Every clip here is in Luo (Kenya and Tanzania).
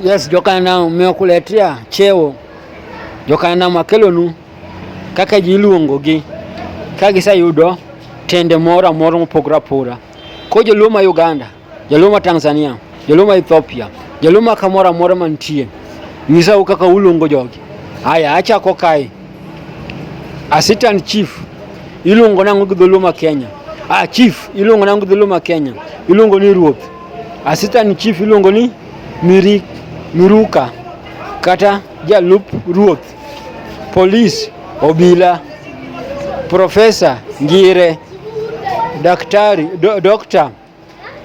Yes, jokana umekuletea cheo jokana makelonu kaka ji iluongogi ka giseyudo tende moro amora mopogore apora ko joluo ma Uganda joluo ma Tanzania joluo ma Ethiopia joluo ma kamoro amora mantie nyisau kaka uluongo jogi haya achako kae assistant chief iluongo nang'o gi dholuo ma Kenya ah chief iluongo nang'o gi dholuo ma Kenya iluongo ni ruoth Assistant Chief iluongo ni Miri, Miruka kata jalup ruoth, polis, obila, profesa Ngire, daktari, do, dokta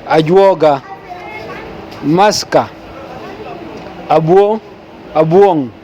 Ajuoga, maska Abuo, Abuong'.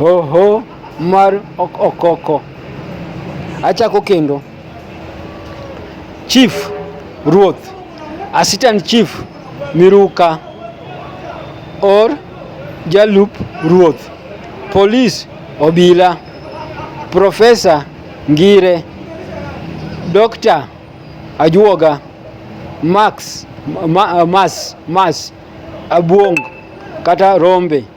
Oho mar okoko. Achako kendo. Chief Ruoth, Assistant Chief Miruka or Jalup Ruoth, Police Obila, Professor Ngire, Dr. Ajuoga, Max, ma, Mas, Mas, Abuong kata Rombe.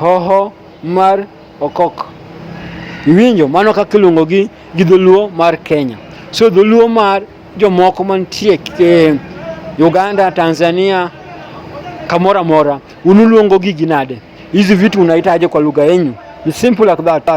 Hoho mar okok. Iwinjo mano kaka iluongo gi gi dholuo mar Kenya. So dholuo mar jomoko mantie e, Uganda, Tanzania, kamora mora, unuluongo gigi nade? Hizi vitu unaitaje kwa lugha yenyu? Ni simple like that.